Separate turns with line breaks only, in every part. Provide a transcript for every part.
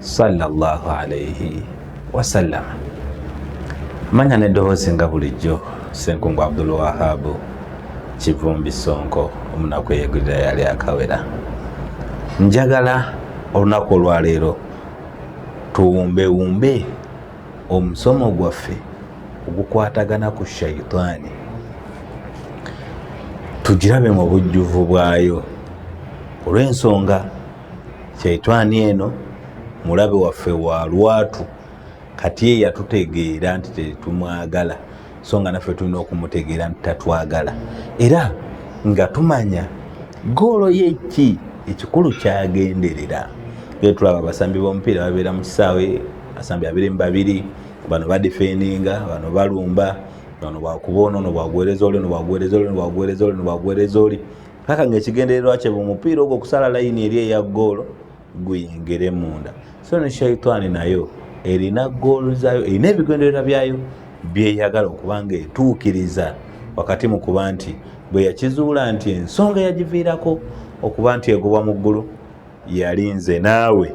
sallallahu alaihi wasallam manya neddoboozi nga bulijjo senkungu abdul wahabu kivumbi sonko omunaku eyegulira yali akawera njagala olunaku olwaleero tuwumbewumbe omusomo gwaffe ogukwatagana ku shaitaani tugirabe mu bujjuvu bwayo olw'ensonga Shaitaani eno mulabe waffe wa lwatu, kati ye yatutegeera nti tetumwagala, so nga naffe tulina okumutegeera nti tatwagala, era nga tumanya goolo ye ki ekikulu kyagenderera. Era tulaba abasambi b'omupiira babeera mu kisaawe, abasambi babiri mu babiri, bano badifeninga, bano balumba, bano bwakuba ono, ono bwaguwereza oli, ono bwaguwereza oli, ono bwaguwereza oli, ono bwaguwereza oli. paka ngaekigendererwa kye mu mupiira ogwo okusala layini eri eya goolo guyingire munda so ne shaitaani nayo erina goolo zayo erina ebigendererwa byayo byeyagala okuba nga etuukiriza wakati mu kuba nti bwe yakizuula nti ensonga yagiviirako okuba nti egobwa mu ggulu yali nze naawe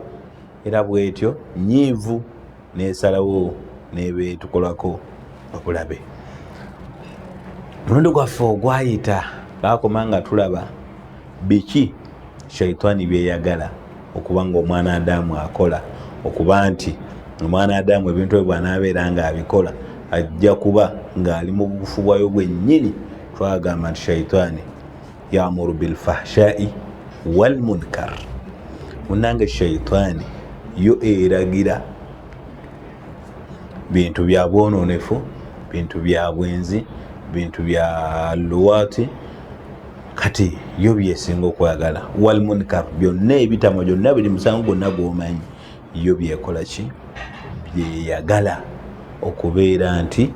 era bwetyo nyiivu nesalawo nebetukolako obulabe mulundi gwaffe ogwayita bakoma nga tulaba biki shaitani byeyagala okuba nga omwana adamu akola okuba nti omwana adamu ebintu ebyo bwanaabeera nga abikola ajja kuba ng'ali mu bufu bwayo bwennyini twagamba nti shaitaani yamuru bilfahshai walmunkar munange shaitaani yo eragira bintu bya bwononefu bintu bya bwenzi bintu bya luwaati kati yo byesinga okwagala walmunkar byonna ebitamwa gyonna biri musango gwonna gwomanyi Yo by'ekola ki? By'eyagala okubeera nti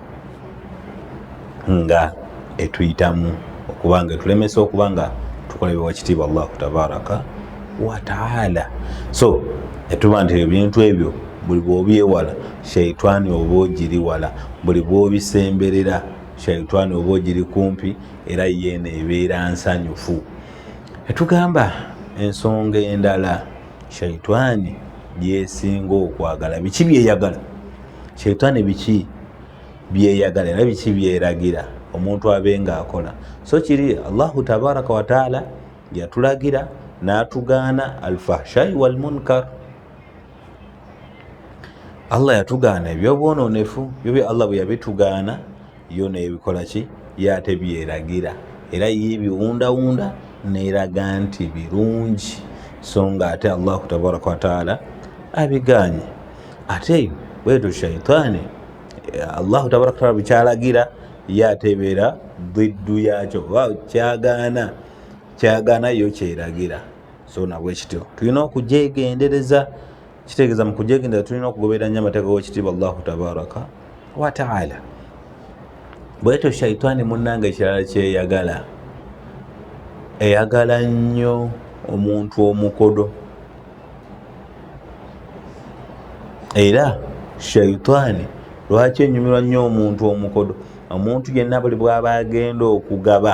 nga etuyitamu okuba nga etulemesa okuba nga tukola bye wakitiibwa Allahu tabaraka wa taala. So etuba nti ebintu ebyo buli bw'obyewala shaitani oba ogiri wala, buli bw'obisemberera shaitani oba ogiri kumpi era yeeno ebeera nsanyufu. Etugamba ensonga endala. shaitani byesinga okwagala biki byeyagala shaitani biki byeyagala era biki byeragira omuntu abe nga akola so kiri allahu tabaraka wataala yatulagira natugaana alfahshai walmunkar allah yatugaana ebyobwononefu byo bye allah bweyabitugaana Yo n'ebikola ki? Yo ate by'eragira. Era yo ebiwundawunda n'eraga nti birungi. So nga ate Allahu tabaraka wa taala abigaanye. Ate bwetyo shaitaani Allahu tabaraka wa taala bwe kyalagira yo ate ebeera bwiddu yaakyo oba kyagaana kyagaana yo kyeragira. So nabwe kityo tulina okugyegendereza kitegeeza mu kujegendera tulina okugoberera nnyo amateeka g'ekitiibwa allahu tabaraka wataala bwetyo shaitaani munnanga ekirala kyeyagala eyagala nnyo omuntu omukodo era shaitaani lwaki enyumirwa nnyo omuntu omukodo omuntu yenna buli bwaba agenda okugaba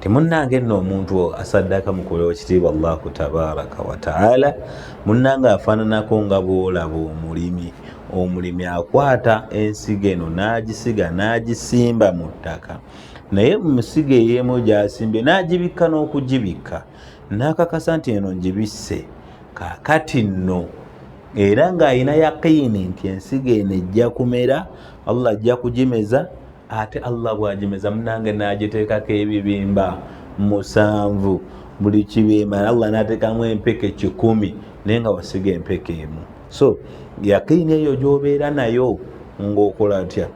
timunnange nno omuntu asaddaaka mukulewo kitiibwa allahu tabaraka wataala munnange afaananako nga bwolaba omulimi omulimi akwata ensigo eno n'agisiga n'agisimba mu ttaka naye musiga eyemu gyasimbye n'agibikka n'okugibikka n'akakasa nti eno ngibisse kakati nno era ng'alina yaqiini nti ensigo eno ejja kumera allah ajja kugimeza ate allah bwagimeza munange nagitekako ebibimba musanvu buli kibimba allah natekamu empeke kikumi naye nga wasiga empeke emu so yakiini eyo gyobeera nayo ngaokola tya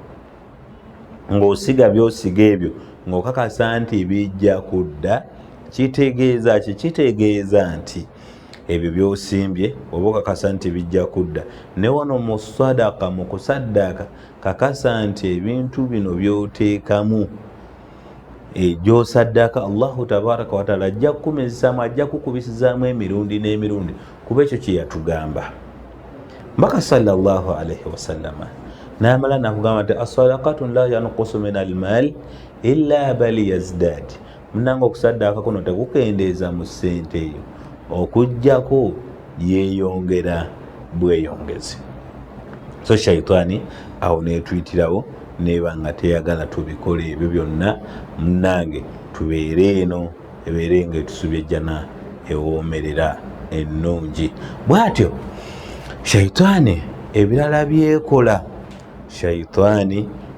ngaosiga byosiga ebyo ngaokakasa nti bijja kudda kitegeeza ki kitegeeza nti ebyo byosimbye oba okakasa nti bijja kudda ne wano mu sadaka mu kusaddaaka kakasa nti ebintu bino byoteekamu egyosaddaaka allahu tabaraka wataala ajja kukumizisaamu ajja kukubisizaamu emirundi n'emirundi kuba ekyo kye yatugamba mbaka salllah alaihi wasallama namala nakugamba nti asadakatun la yankusu min almal ila bali yazdadi munange okusaddaaka kuno tekukendeeza mu ssente eyo okujjako yeeyongera bweyongezi so shaitaani awo netuyitirawo neeba nga teyagala tubikola ebyo byonna munange tubeere eno ebeere nga etusubye jjana ewoomerera ennungi bwatyo shaitaani ebirala byekola shaitaani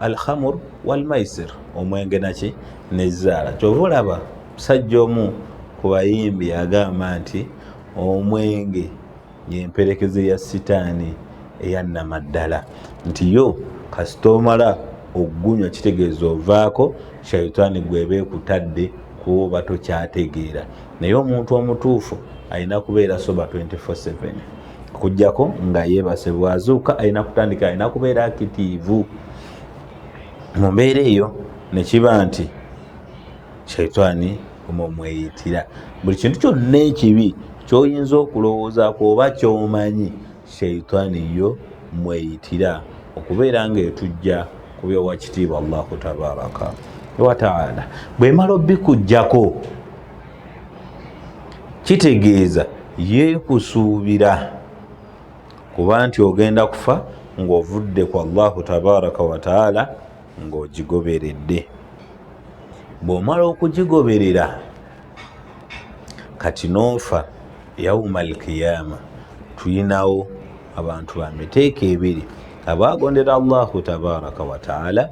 alhamur walmaisir omwenge naki nezaala kyova olaba musajja omu ku bayimbi agamba nti omwenge yemperekeze ya sitaani eyannamaddala nti yo kasita omala okugunywa kitegeeza ovaako shaitaani gweba ekutadde kuba tokyategeera naye omuntu omutuufu alina kubeera soba 24/7 okujjako nga yeebase bwazuuka alina kutandika alina kubeera akitiivu mu mbeera eyo nekiba nti shaitaani omumweyitira buli kintu kyonna ekibi kyoyinza okulowooza kuoba kyomanyi shaitaani yo mweyitira okubeera nga etujja kubyowa kitiibwa allahu tabaraka wataala bwemala obikujjako kitegeeza yeekusuubira kuba nti ogenda kufa ng'ovudde ku allahu tabaraka wataala ng'ogigoberedde bw'omala okugigoberera kati noofa yauma alkiyama tulinawo abantu ba miteeko ebiri abaagondera allahu tabaraka wataala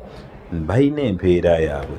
balina empeera yaabwe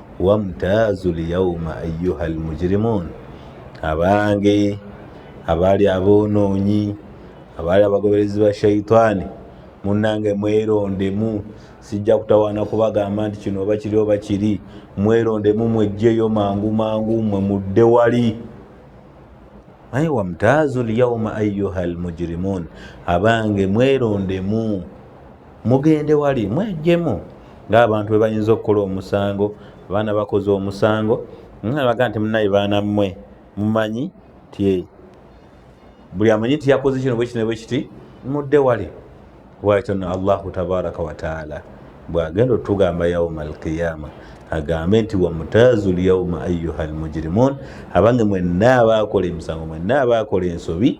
wamtaazu lyauma ayuha lmujirimun abange abaali aboonoonyi abaali abagoberezi ba shaitaani munange mwerondemu sijja kutawaana kubagamba nti kino oba kiri oba kiri mwerondemu mwejjeyo mangu mangu mwe mudde wali naye wamtaazu lyauma ayuha lmujirimun abange mwerondemu Mugende wali mwejjemu ng'abantu bwe bayinza okukola omusango, abaana bakoze omusango, nabaga nti munaye baana mmwe mumanyi nti buli amanyi nti yakoze kino bwekino bwekiti mudde wali bwakyono allahu tabaraka wataala bwagenda otugamba yauma alqiyama agambe nti wamutazu lyauma ayuha almujirimun abange mwenna abaakola emisango mwenna abaakola ensobi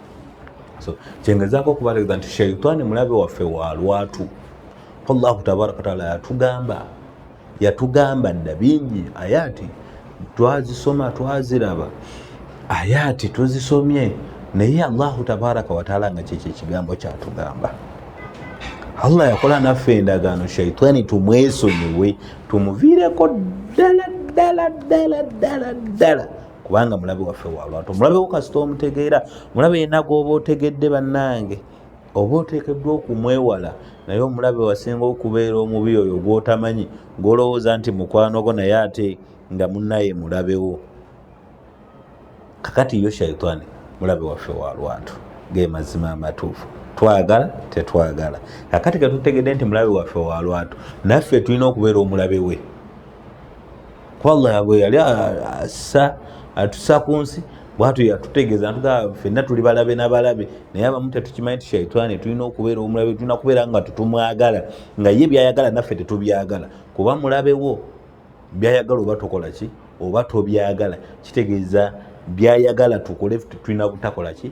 so kyengezaako okubategeeza nti shaitaani mulabe waffe wa lwatu allahu tabaraka wataala yatugamba yatugamba dda bingi ayaati twazisoma twaziraba ayaati tuzisomye naye allahu tabaraka wataala nga kyekyo ekigambo kyatugamba allah yakola naffe endagaano shaitaani tumwesonyiwe tumuviireko ddala ddala ddala ddala ddala kubanga mulabe waffe walwatu omulabe wo kasita omutegeera mulabe yena gwoba otegedde bannange oba oteekeddwa okumwewala naye omulabe wasinga okubeera omubi oyo gwotamanyi gwolowooza nti mukwano gwo naye ate nga munaye mulabewo kakati yo shaitaani mulabe waffe walwatu ge mazima amatuufu twagala tetwagala kakati ketutegedde nti mulabe waffe walwatu naffe tulina okubeera omulabe we kuba allah yagwe yali assa atusa ku nsi bwatyo yatutegeeza natugaa fenna tuli balabe nabalabe naye abamu tetukimanyi ti shaitaani tulina okubeera omulabe tulina kubeera nga tutumwagala nga ye byayagala naffe tetubyagala kuba mulabewo byayagala oba tokola ki oba tobyagala kitegeeza byayagala tukole tulina butakola ki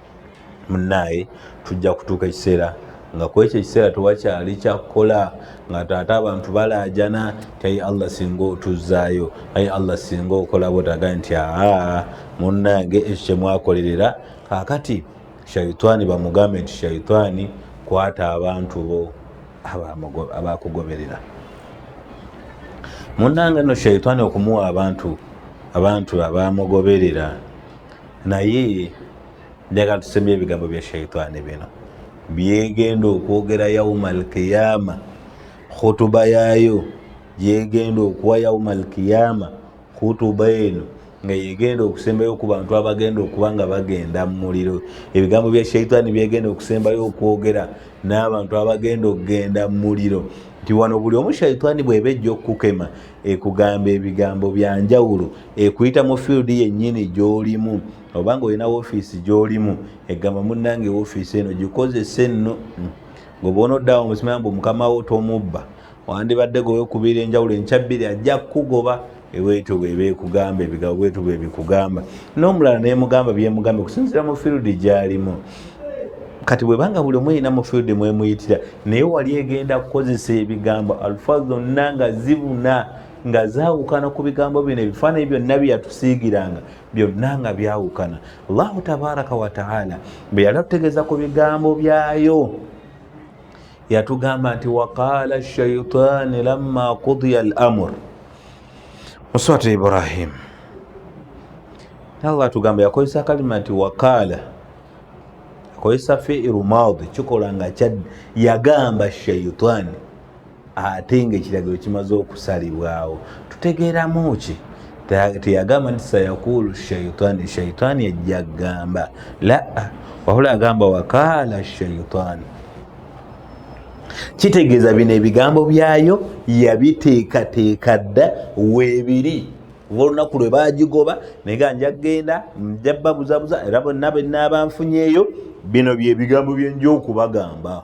munnaaye tujja kutuuka ekiseera nga kwekyo ekiseera tewakyali kyakukola nga taate abantu balaajana tayi allah singa otuzzaayo ayi allah singa okolabo taga nti aa munnange ekyo kyemwakolerera kakati shaitaani bamugambe nti shaitaani kwata abantu bo abakugoberera munnange no shaitaani okumuwa abantu abantu abamugoberera naye njagala tusemye ebigambo bya shaitaani bino byegenda okwogera yauma alkiyama khutuba yayo gyegenda okuwa yauma alkiyama khutuba eno nga yegenda okusembayo ku bantu abagenda okuba nga bagenda mu muliro ebigambo bya shaitaani byegenda okusembayo okwogera n'abantu abagenda okugenda mu muliro nti wano buli omu shaitaani bweba ejja okukukema ekugamba ebigambo bya njawulo ekuyita mu field yennyini gy'olimu oba nga olina woofiisi gy'olimu egamba munnange woofiisi eno gikozesa enno hmm. ngoba onoddawo musimaya mbu mukamawo tomubba wandibadde goba okubiira enjawulo enkyabbiri ajja kukugoba ebwetu bweba ekugamba ebigabo bwetu bwebikugamba n'omulala nemugamba byemugamba okusinzira mu field gy'alimu kati bwebanga buli omu erina mu field mwemuyitira naye wali egenda kukozesa ebigambo alfa zonna nga zibuna nga zawukana ku bigambo bino ebifaananyi byonna byeyatusiigiranga byonna nga byawukana allahu tabaraka wataala bwe yali atutegeeza ku bigambo byayo yatugamba nti waqaala shaitaani lamma kudiya al amur Muswati Ibrahim Allah atugamba yakozesa kalima nti wakaala akozesa fiiru maadi kikola nga yagamba shaitaani ate nga ekiragiro kimaze okusalibwawo tutegeeramu ki teyagamba nti sayakulu shaitaani shaitaani ejja kugamba laa wabula agamba wakaala shaitaani kitegeeza bino ebigambo byayo yabiteekateeka dda weebiri oba olunaku lwe baagigoba naye ga nja kugenda nja babuzabuza era bonna be naabanfunyeeyo bino bye bigambo byenja okubagamba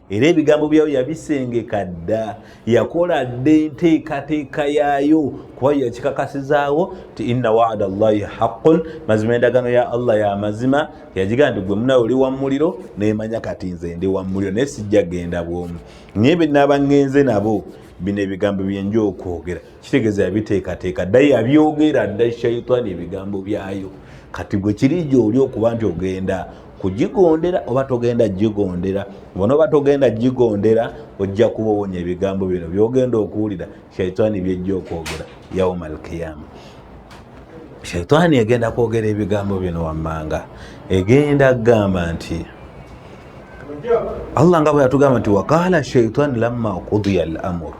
era ebigambo byayo yabisengeka dda yakola dda enteekateeka yaayo kuba yakikakasizaawo nti inna waada llahi haqun mazima endagaano ya allah ya mazima yagigaa nti gwe munawe oli wa muliro nemanya kati nze ndi wa muliro naye sijja genda bwomu naye bye naba ngenze nabo bino ebigambo byenja okwogera kitegeeza yabiteekateeka dda yabyogera dda shaitaani ebigambo byayo kati gwe kiri gyoli okuba nti ogenda kugigondera oba togenda gigondera bona oba togenda gigondera ojja kuba owonya ebigambo bino byogenda okuwulira shaitaani byejja okwogera yauma alkiyama shaitaani egenda kwogera ebigambo bino wammanga egenda kugamba nti allah nga bwe yatugamba nti waqaala shaitaani lamma kudiya al amuru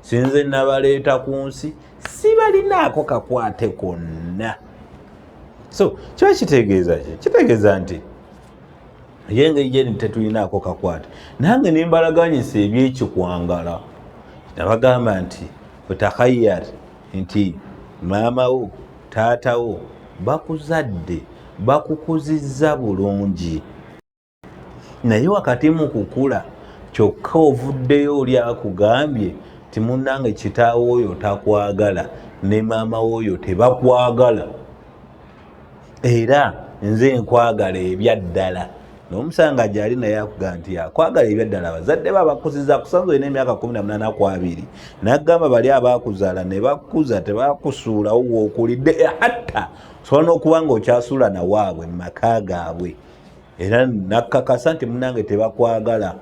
sinze nabaleeta ku nsi sibalinaako kakwate konna so kiba kitegeeza ki kitegeeza nti ye engeri gyeni tetulinaako kakwate nange nembalaganyisa ebyekikwangala nabagamba nti otakhayyar nti maama wo taata wo bakuzadde bakukuzizza bulungi naye wakati mu kukula kyokka ovuddeyo oli akugambye timunange kitaawo oyo takwagala ne maama wooyo tebakwagala era nze nkwagala ebyaddala nomusanga gyali naye akuga nti akwagala ebyaddala abazadde be abakuziza kusanza olina emyaka 18 kwabiri nagamba bali abakuzala ne bakuza tebakusuulawo wokulidde hatta osobola nokuba nga okyasuula nawaabwe mu maka gaabwe era nakakasa nti munange tebakwagala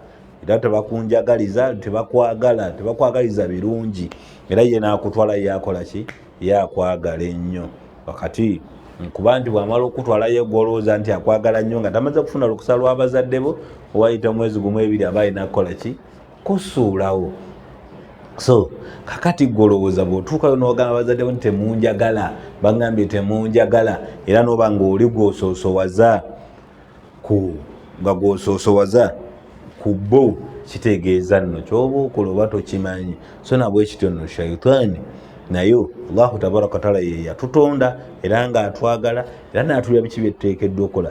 era tebakunjagaliza tebakwagala tebakwagaliza birungi era ye nakutwala yakola ki yakwagala ennyo wakati nkuba nti bwamala okutwalayo gwolowooza nti akwagala nnyo nga tamaze kufuna lukusa lwabazadde bo owayita omwezi gumu ebiri aba alina kukola ki kusuulawo so kakati gwe olowooza bw'otuukayo n'ogamba bazadde nti temunjagala bagambye temunjagala era n'oba ng'oli gw'osoosowaza ku nga gw'osoosowaza ku bo kitegeeza nno ky'oba okola oba tokimanyi so nabwe kityo nno shaitaani naye allahu tabaraka wataala ye yatutonda era ng'atwagala era n'atulira biki bye tuteekeddwa okukola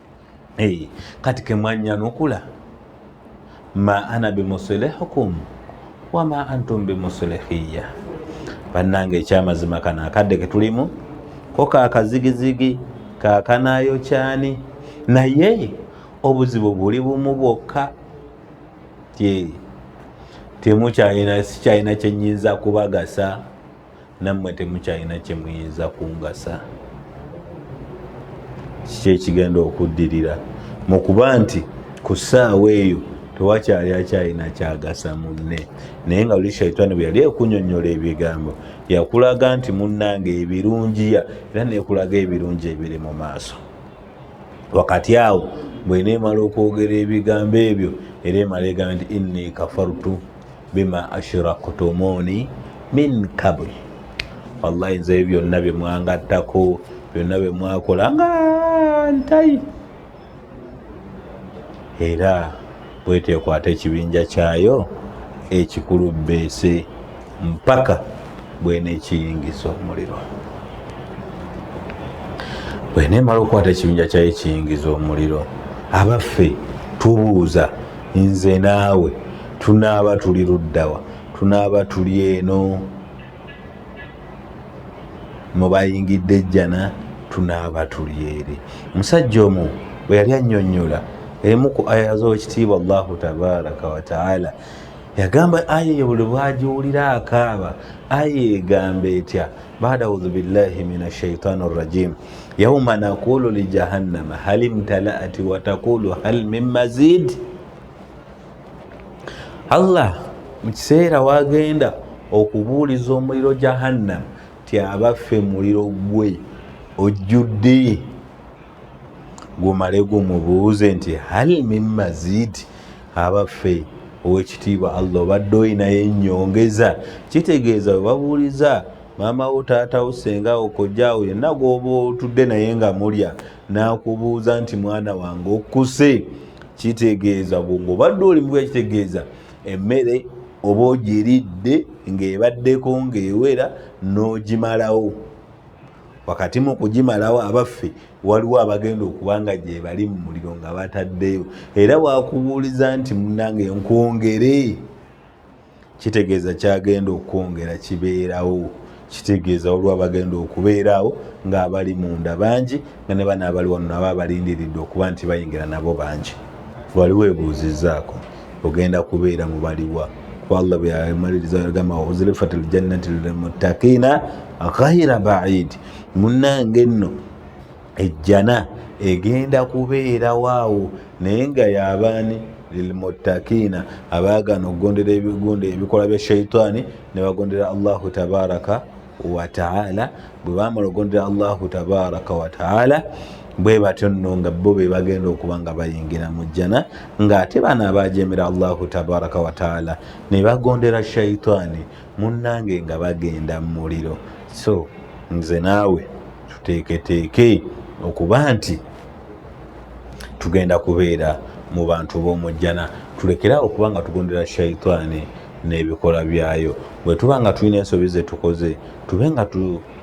Hey, kati kemwanyanukula ma ana bimusilihukum wama antum bimusilihiya bannanga ekyamazima kano akadde ketulimu ko kakazigizigi kakanayo kyani naye obuzibu buli bumu bwokka temukyalina sikyalina kyenyinza kubagasa nammwe temukyalina kye muyinza kungasa kiki ekigenda okuddirira mu kuba nti ku ssaawa eyo tewakyali akyalina kyagasa munne naye nga luli shaitaani bwe yali ekunyonyola ebigambo yakulaga nti munnange ebirungiya era nekulaga ebirungi ebiri mu maaso wakati awo bweneemala okwogera ebigambo ebyo era emala egamba nti inni kafartu bima ashirakutumuni min kabuli wallahi nzeyo byonna bye mwangattako byonna bye mwakola nga ntayi era bwetekwata ekibinja kyayo ekikulu beese mpaka bwenekiyingiza omuliro bwenemala okukwata ekibinja kyayo ekiyingiza omuliro abaffe tubuuza nze naawe tunaaba tuli luddawa tunaaba tuli eno mubayingidde ejjana tunaaba tuli eri omusajja omu bwe yali annyonnyola emu ku aya z'ekitiibwa allahu tabaraka wataala yagamba aya eyo buli bwagiwulira akaaba aya egamba etya bada auzu billahi min ashaitani rrajim yauma nakulu lijahannama hal imtalaati watakulu hal min mazidi allah mu kiseera wagenda okubuuliza omuliro jahannam ti abaffe muliro gwe ojjudde gumale gumubuuze nti hal min mazid abaffe owekitiibwa allah obadde olinayo enyongeza kitegeeza webabuuliza maama wo taata wo senga wo kojjaawo yenna gwoba otudde naye nga mulya n'akubuuza nti mwana wange okuse kitegeeza bwongobadde oli mubuya kitegeeza emmere oba ogiridde ng'ebaddeko ng'ewera n'ogimalawo wakati mu kugimalawo abaffe waliwo abagenda okuba nga gyebali mu muliro nga bataddeyo era wakubuuliza nti munange nkwongere kitegeeza kyagenda okwongera kibeerawo kitegeeza olwa bagenda okubeeraawo ng'abali munda bangi nga ne bana abali wano nabo abalindiridde okuba nti bayingira nabo bangi waliwo ebuuzizzaako ogenda kubeera mu baliwa kuba allah byamaliriza agamba uzilifat ljannati lilmuttakiina ghaira baidi munnange nno ejjana egenda kubeerawo awo naye nga yabaani lilmuttakiina abaagana okugondera ebigundo ebikola bya shaitaani ne bagondera allahu tabaraka wataala bwe bamala okugondera allahu tabaraka wataala bwe batyo nno nga bo be bagenda okuba nga bayingira mu jjana ng'ate bano abaajemera allahu tabaraka wataala ne bagondera shaitaani Munange nga bagenda mumuliro so nze naawe tuteeketeeke okuba nti tugenda kubeera mu bantu b'omujjana tulekere awo okuba nga tugondera shaitaani n'ebikolwa byayo bwe tuba nga tulina ensobi ze tukoze tube nga tu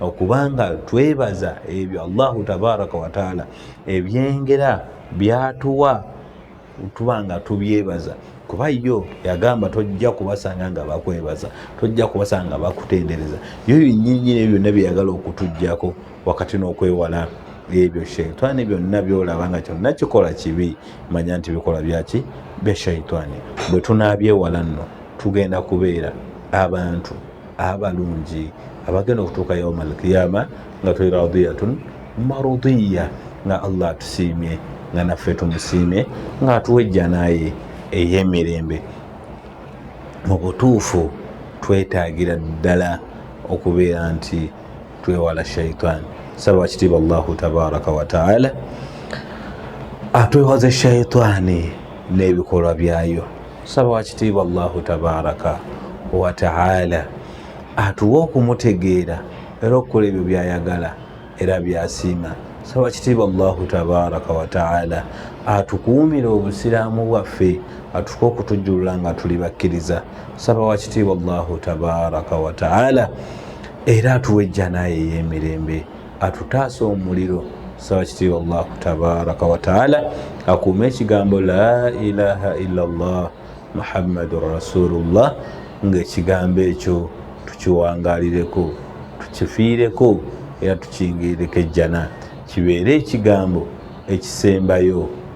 okubanga twebaza ebyo allahu tabaraka wataala ebyengera byatuwa tuba nga tubyebaza kuba yo yagamba tojja kubasanga nga bakwebaza tojja kubasanga nga bakutendereza yo binyinyini ebyo byonna byeyagala okutujjako wakati n'okwewala ebyo shaitani byonna byolaba nga kyonna kikola kibi manya nti bikola byaki bya shaitani bwe tunabyewala nno tugenda kubeera abantu abalungi abagenda okutuuka yauma alkiyama nga tuli radiyatun marudiya nga allah atusiimye nga naffe tumusiimye nga atuwa ejjanaye ey'emirembe mu butuufu twetaagira ddala okubeera nti twewala shaitaani saba wakitiibwa allahu tabaraka wataala atwewaze shaitaani n'ebikolwa byayo tusaba wakitiibwa allahu tabaraka wataala atuwa okumutegeera era okukola ebyo byayagala era byasiima saba kitiibwa allahu tabaraka wataala atukuumire obusiraamu bwaffe atuke okutujjulula nga tuli bakkiriza saba wakitiibwa allahu tabaraka wataala era atuwa ejjanayo ey'emirembe atutaase omuliro saba kitiibwa allahu tabaraka wataala akuuma ekigambo la ilaha illa llah muhammadun rasulullah ngaekigambo ekyo tukiwangalireko tukifiireko era tukingirireko ejjana kibeere ekigambo ekisembayo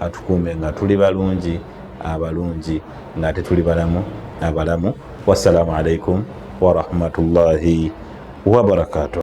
atukuume nga tuli balungi abalungi nga ate tuli balamu abalamu wassalamu alaikum warahmatullahi wabarakatuh